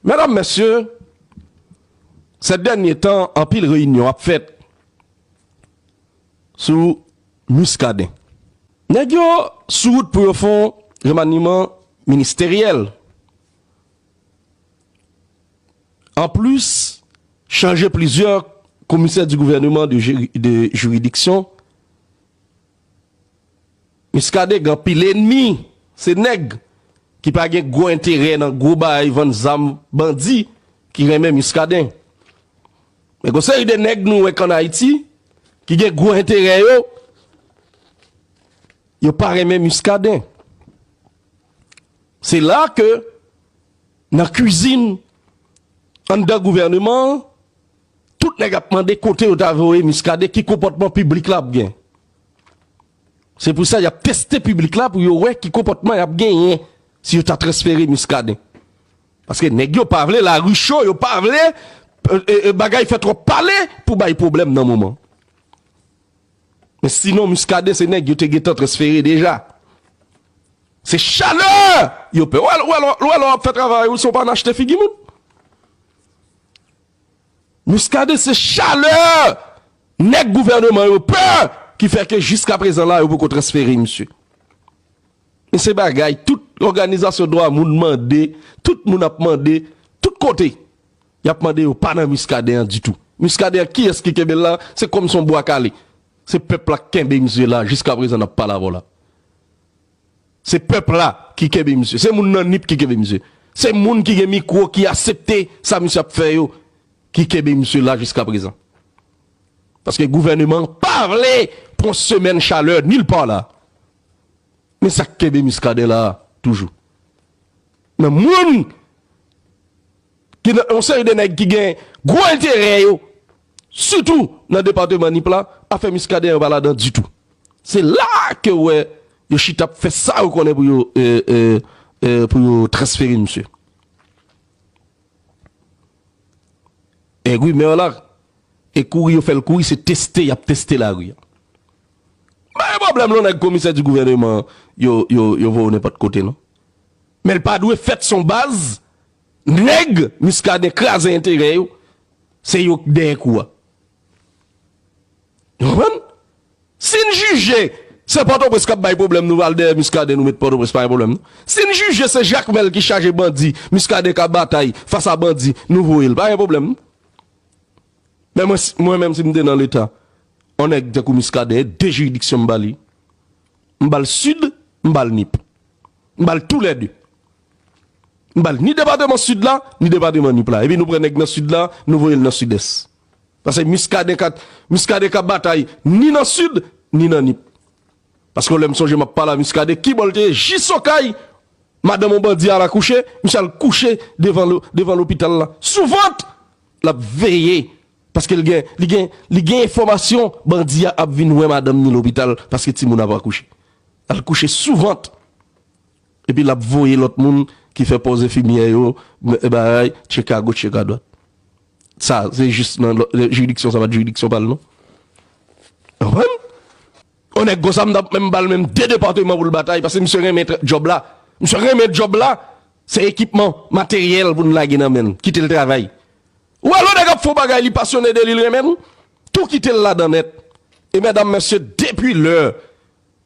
Medam, mesye, sè dènye tan anpil reyinyon ap fèt sou Muscadin. Nèg yo sou wout pou yo fon remaniman ministeryèl. An plis, chanje plizyè komisè di gouvèneman de jiridiksyon Muscadin gen anpil enmi, se nèg ki pa gen gwo enterè nan gwo bay vann zam bandi ki renmen Muscadin. Men gon seri de nèg nou wè k an Ayiti ki gen gwo enterè yo, yo pa renmen Muscadin. Se la ke nan kwizin anndan gouvèneman an, Tout nèg ap mande kote yo ta voye Muscadin, ki konpòtman piblik la ap gen. Se pou sa y ap teste piblik la pou yo wè ki konpòtman y ap genyen si yo ta transfere Muscadin. Paske nèg yo pa vle lari cho, yo pa vle bagay fè twòp pale pou bay pwoblèm nan moman. Men sinon Muscadin se nèg yo te gentan transfere deja. Se chalè yo pè. Ou wè lè w ap fè travay ou si w pa nachte figi moun. Muscadin se chalè nèg gouvèneman yo pè ki fè ke jiska prezan la yo poko transfere misye. Men se bagay tout òganizasyon dwa moun mande, tout moun ap mande, tout kote yap mande yo pa nan Muscadin an ditou. Muscadin an kiyès ki kenbe l la? Se kòm son bwa kale. Se pèp la k kenbe misye la jiska prezan nap pale avè w la. Se pèp la ki kenbe misye. Se moun nan nip ki kenbe misye. Se moun ki gen mikwo ki asepte sa misye ap fè yo ki kenbe misye la jiska prezan. Paske gouvèneman an pa vle pran semèn chalè nil pa la. Men sa k kenbe Muscadin la toujou. Nan moun ki nan yon seri de nèg ki gen gwo enterè yo. Sitou nan departeman Nip la, afè Muscadin yo pa ladan ditou. Se la ke ou wè yo chita ap fè sa yo konnen pou yo pou yo transfere misye. Èg wi Maire la, e kouri yo fèl kouri se teste yap teste lari a. Pa gen pwoblèm non nèg komisè di gouverneman yo yo yo voye nenpòt kote non. Men li pa dwe fèt son baz Neg muscadin kraze enterè yo se yo k dèyè kou a. Nou konprann? Sin jije se pòtoprens kap bay pwoblèm nou pral dèyè muscadin nou met pòtoprens pa gen pwoblèm non. Sin jije se jacmel ki chaje bandi muscadin ka batay fas a bandi nou voyel pa gen pwoblèm non. Men mwen si mwen menm sim te nan leta on nèg tankou muscadin de jiridiksyon m bali m bal sud m bal nip m bal tou lè de. M ba l ni depateman Sid la, ni depateman Nip la. Epi nou pran nèg nan Sid la, nou voye l nan Sidès. Pase Miskaden ka Miskaden ka batay ni nan Sid, ni nan Nip. Pase yon lè m sonje m ap pale a Miskaden, ki bò l te ye? Jis Okay, madanm yon bandi al akouche, misye al kouche devan lo, devan lopital la. Sou vant! L ap veye, paske l gen, li gen, li gen enfòmasyon bandi a ap vin wè madanm ni lopital, paske timoun ap akouche. Al kouche sou vant! Epi lap voye lòt moun ki fè pòz enfimyè yo bay tchek a goch tchek a dwat. Sa se jis nan jiridiksyon sa pat jiridiksyon pal non. Konprann? On nèg konsa m tap menm bal menm 2 departement poul batay paske misye renmen job la. Misye renmen job la, se ekipman, materyèl poun lage nan menl, kitel travay. Ou wè lè on nèg ap fon bagay li pasyone de li, li renmenl, tou kitel ladan nèt. E mèdam mesye depi lè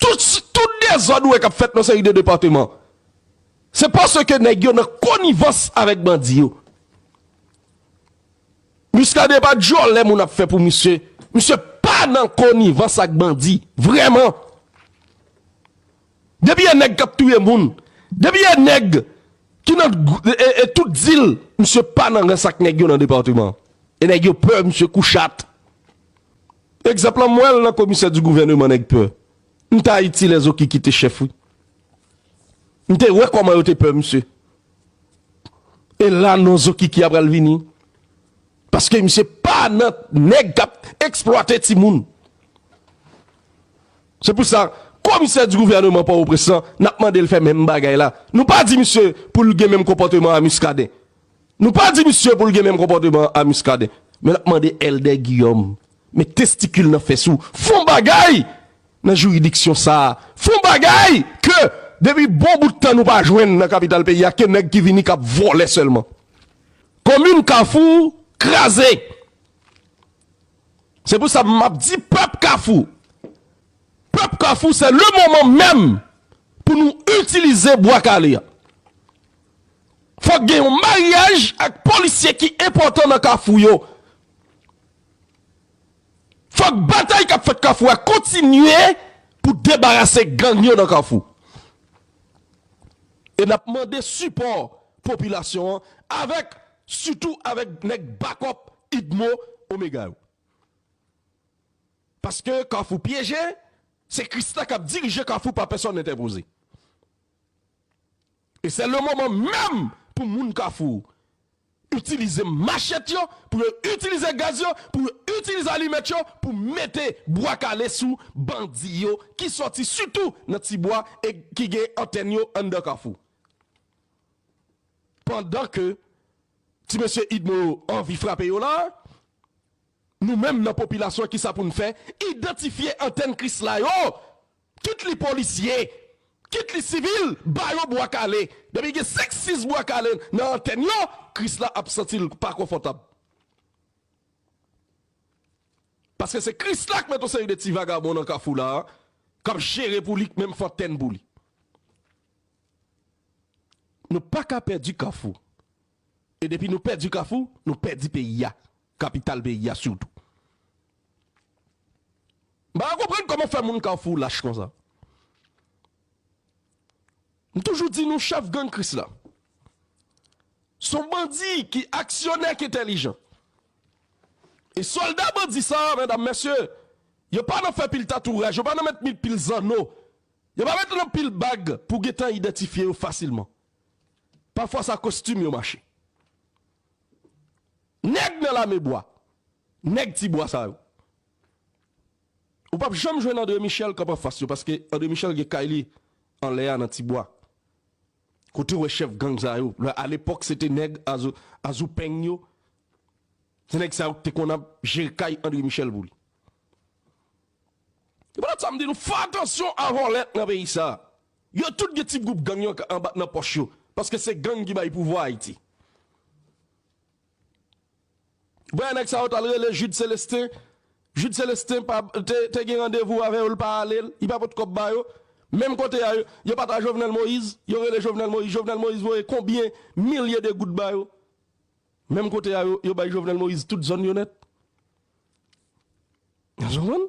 Tout dezòd ou wè kap fèt nan seri de departement se paske nèg yo nan konivans avèk bandi yo. Muscadin epa djòlè moun ap fè pou misye, misye pa nan konivans ak bandi vrèman. Depi e neg kap touye moun. Depi e neg ki nan e tout dil misye pa nan rans ak neg yo nan departement. E neg yo peur misye kou chat. Egzanp lan m wel nan komisè di gouveneman neg peur. M t ayiti lè zoki kite chef wi. M te we koman yo te peur misye. E la non zoki ki a pral vini. Paske misye pa nan nèg kap eksplwate timoun. Se pou sa komisè di gouvèneman Pòtoprens lan nap mande l fè menm bagay la. Nou pa di misye pou l gen menm konpòteman a Muscadin. Nou pa di misye pou l gen menm konpòteman a Muscadin. Men nap mande Èldè Guillaume met testikil nan fès ou fon bagay nan jiridiksyon sa a. Fon bagay ke depi bon bout tan nou pa jwenn nan kapital peyi a ke nèg ki vini kap vòlè sèlman. Komin kafou kraze. Se pou sa map di pèp kafou. Pèp kafou se le moman menm pou nou itilize bwa kale a. Fòk gen yon maryaj ak polisye ki enpòtan nan kafou yo. Fòk batay kap fèt kafou a kontinye pou debarase gang yo nan kafou. E nap mande sipò popilasyon an avèk sitou avèk nèg bakòp Idmo Omega yo. Paske kafou pyeje, se Christa kap dirije kafou pa pèsòn entèpoze. E sè le moman menm pou moun kafou itilize machèt yo, pou yo itilize gaz yo, pou yo itilize alimèt yo pou mete bwa kale sou bandi yo ki sòti sitou nan ti bwa e ki gen antèn yo anndan kafou. Pandan ke ti mesye idmo yo anvi frape yo la a, nou menm nan popilasyon kisa pou n fè? Idantifye antèn krisla yo! Kit li polisye, kit li sivil, ba yo bwa kale. Depi gen 5, 6 bwa kale nan antèn yo, Kris la ap santi l pa konfòtab. Paske se Kris la k met yon seri de ti vagabon nan kafou la a, k ap jere pou li, k menm fè antèn pou li. Nou pa ka pèdi kafou. E depi nou pèdi kafou, nou pèdi peyi a, kapital peyi a sitou. M pa ka konprann kòman fè moun kafou lach konsa. M toujou di nou chèf gang krisla son bandi ki aksyonè ki entèlijan. E sòlda bandi sa a medam mesye, yo pa nan fè pil tatouraj, yo pa nan met pil zanno, yo pa met nan pil bag pou gentan idantifye yo fasilman. Pafwa sa kostim yo mache. Nèg nan lame bwa, nèg ti bwa sa yo. Ou pap janm jwenn Andre Michel k ap anfas yo paske Andre Michel gen kay li anlè a nan ti bwa. Kote w wè chèf gang sa yo? A lepòk se te nèg Azou Peng yo. Se nèg sa yo k te konn ap jere kay Andre Michel pou li. Se poutèt sa m di nou fè atansyon a vòlè nan peyi sa. Yo tout gen ti group gang yo anba nan poch yo paske se gang ki bay pouvwa ayiti. Voye nèg sa yo tal rele Jude Celestin, Jude Celestin pa te gen randevou avè yo li pa ale li pa pot kòb ba yo menm kote a yo pat a Jovenel Moïse yo rele Jovenel Moïse Jovenel Moïse voye konbyen milye de goud ba yo menm kote a yo bay Jovenel Moïse tout zòn yo nèt. Èske w konprann?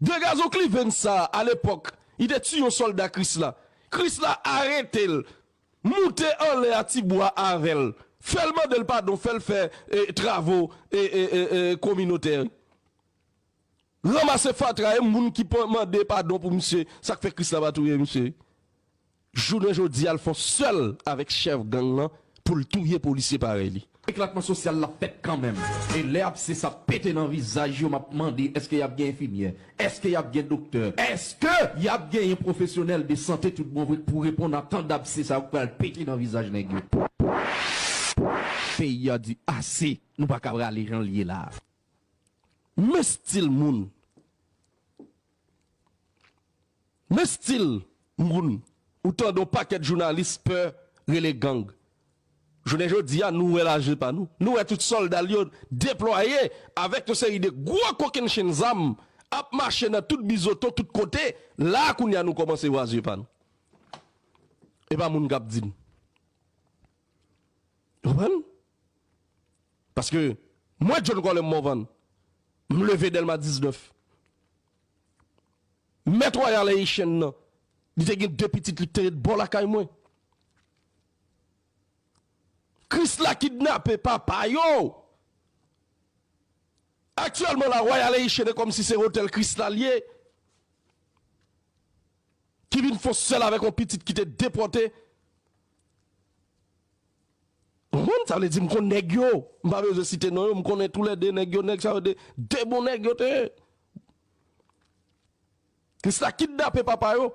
De gazon kliven sa a lepòk li te tiye yon sòlda Kris la. Kris la arete l, moute anlè a ti bwa avè l, fè l mande l padon, fè l fè travo kominotè, ranmase fatra e moun ki mande padon pou misye. Sa k fè Kris la pa touye misye? Jounen jodi a l fon sèl avèk chèf gang lan pou l touye polisye parèy li. Eklatman sosyal la fèt kanmenm e lè absès ap pete nan vizaj yo m ap mande èske y ap gen enfimyè? Èske y ap gen doktè? Èske y ap genyen pwofesyonèl de sante tout bon vre k pou reponn a tan dabse sa yo k pral pete nan vizaj nèg yo? Peyi a di ase! Nou pa ka rale jan l ye la a. Men stil moun! Men stil moun ou tande yon pakèt jounalis pè rele gang. Jounen jodi a nou wè l a je pa nou. Nou wè tout sòlda l yo deplwaye avèk yon seri de gwo kokennchenn zam ap mache nan tout bizoton tout kote. La a kounye a nou kòmanse wè a zye pa nou. E pa moun k ap di n. Ou konprann? Paske mwen John Colem Morvan, m leve Dèlma 19. Mèt Royal Haitian nan, li te gen 2 pitit li ki te ret bò lakay mwen. Krisla kidnape papa yo! Aktyèlman la Royal Haitian e kòmsi se Hotel Krisla li ye, ki vin fon sèl avèk yon pitit ki te depòte. Konprann? Sa vle di m konn nèg yo, m pa bezwen site non yo, m konnen tou lè 2 nèg yo, nèg sa yo 2 bon nèg yo te ye. Krisla kidnape papa yo.